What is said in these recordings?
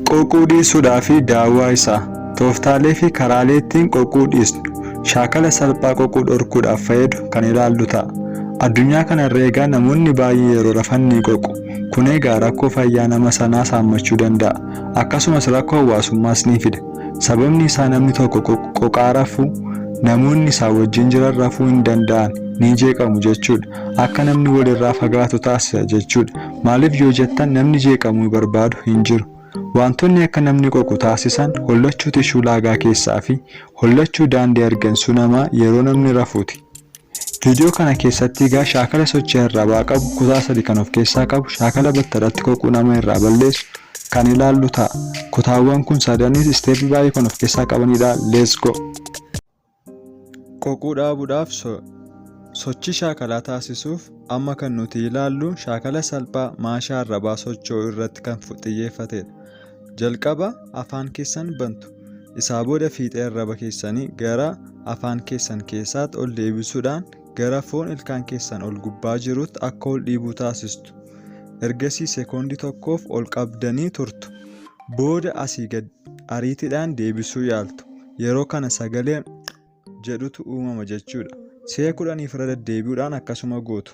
Quuquu dhiisuudhaa fi daawwaa isaa. Tooftaalee fi karaalee ittiin quuquu dhiisnu shaakala salphaa quuquu dhorkuudhaaf fayyadu kan ilaallu ta'a. Addunyaa kana irra egaa namoonni baay'een yeroo rafan ni quuqu. Kun egaa rakkoo fayyaa nama sanaas haammachuu danda'a. Akkasumas rakkoo hawaasummaas ni fida. Sababni isaa namni tokko quuqaa rafu namoonni isaa wajjin jiran rafuu hin danda'an, ni jeeqamu jechuudha. Akka namni walirraa fagaatu taasisa jechuudha. Maaliif yoo jettan namni jeeqamu nu barbaadu hin jiru. Waantonni akka namni qoqu taasisan hollachuu tishuu laagaa keessaa fi hollachuu daandii hargansuu namaa yeroo namni rafuuti. Viidiyoo kana keessatti egaa shaakala sochii arrabaa qabu kutaa sadi kan of keessaa qabu shaakala battalatti qoquu nama irraa balleessu kan ilaallu ta'a. Kutaawwan kun sadanis isteeppii baay'ee kan of keessaa qabanidha. Let's go! Qoquu dhaabuudhaaf sochii shaakalaa taasisuuf amma kan nuti ilaallu shaakala salphaa maashaa arrabaa socho'uu irratti kan xiyyeeffatedha. Jalqaba afaan keessan bantu. Isaa booda fiixee arraba keessanii gara afaan keessan keessaatti ol deebisuudhaan gara foon ilkaan keessan ol gubbaa jirutti akka ol dhiibuu taasistu. Ergasii sekoondii tokkoof ol qabdanii turtu. Booda asii gad ariitiidhaan deebisuu yaaltu. yeroo kana sagalee jedhutu uumama jechuudha. Si'a kudhaniif irra deddeebi'uudhaan akkasuma gootu.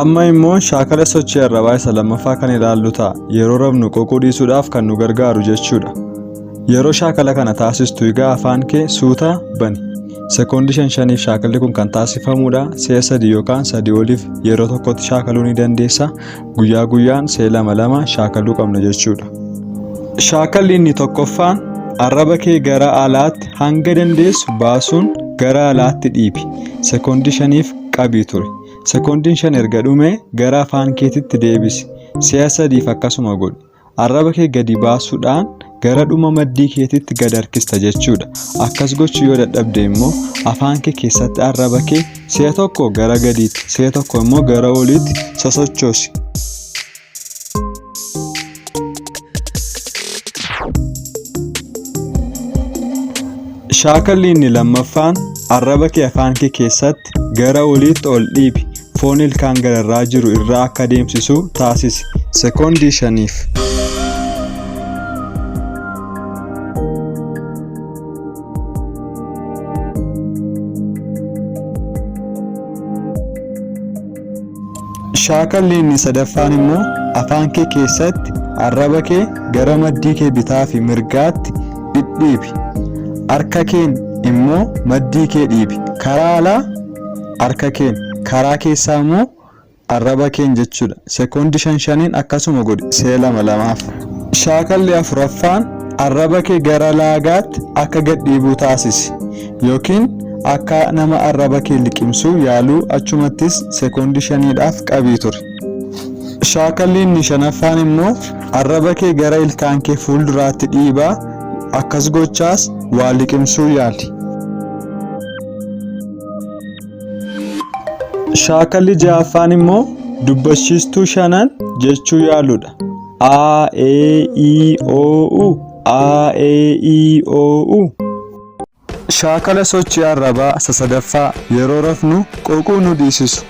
Amma immoo shaakala sochii arrabaa isa lammaffaa kan ilaallu ta'a. Yeroo rafnu qoquu dhiisuudhaaf kan nu gargaaru jechuudha. Yeroo shaakala kana taasistu egaa afaan kee suuta bani. Sekoondii shan shaniif shaakalli kun kan taasifamudha. Si'a sadii yookaan sadii oliif yeroo tokkotti shaakaluu ni dandeessa. guyyaa guyyaan see lama lama shaakaluu qabna jechuudha. Shaakalli inni tokkoffaan arraba kee gara alaatti hanga dandeessu baasuun gara alaatti dhiibi. Sekoondii shaniif qabii ture. Sekoondiin shan erga dhumee gara afaan keetitti deebisi. Si'a sadiif akkasuma godhi. Arraba kee gadi baasuudhaan gara dhuma maddii keetitti gad harkista jechuudha. Akkas gochuu yoo dadhabde immoo afaan kee keessatti arraba kee si'a tokko gara gadiitti si'a tokko immoo gara oliitti sosochoosi. Shaakalli inni lammaffaan arraba kee afaan kee keessatti Lift. Gara oliitti ol dhiibi. Foon ilkaan gararraa jiru irraa akka deemsisu taasisi. Sekoondii shaniif. Shaakalli inni sadaffaan immoo afaan kee keessatti arraba kee gara maddii kee bitaa fi mirgaatti dhidhiibi. Harka keen immoo maddii kee dhiibi. Karaa alaa harka keen, karaa keessaa immoo arraba keen jechuudha. Sekoondii shan shaniin akkasuma godhi si'a lama lamaaf. Shaakalli afuraffaan arraba kee gara laagaatti akka gad dhiibuu taasisi. Yookiin akka nama arraba kee liqimsu yaaluu achumattis sekoondii shaniidhaaf qabii turi. Shaakalli inni shanaffaan immoo arraba kee gara ilkaan kee fuulduraatti dhiibaa akkas gochaas waa liqimsuu yaali. Shaakalli ja'affaan immoo dubbachiistuu shanan jechuu yaaluudha. A, E, I, O, U. A, E, I, O, U. Shaakala sochii arrabaa isa sadaffaa yeroo rafnu qoquu nu dhiisisu.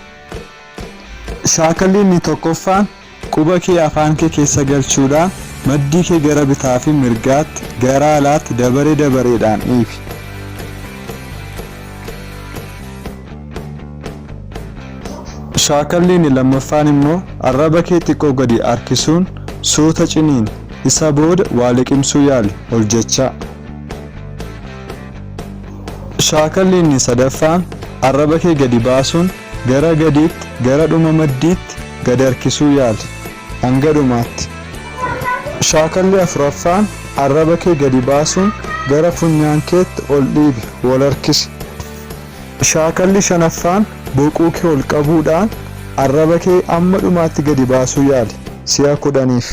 Shaakalli inni tokkoffaan quba kee afaan kee keessa galchuudhaan maddii kee gara bitaa fi mirgaatti gara alaatti dabaree dabareedhaan dhiibi. Shaakalli inni lammaffaan immoo arraba kee xiqqoo gadi harkisuun suuta ciniini. Isa booda waa liqimsuu yaali ol jechaa. Shaakalli inni sadaffaan arraba kee gadi baasuun gara gadiitti gara dhuma maddiitti gad harkisuu yaali hanga dhumaatti. Shaakalli afuraffaan arraba kee gadi baasuun gara funyaan keetti ol dhiibi wal harkisi. Shaakalli shanaffaan boquu kee ol qabuudhaan arraba kee amma dhumaatti gadi baasuu yaali. Si'a kudhaniif.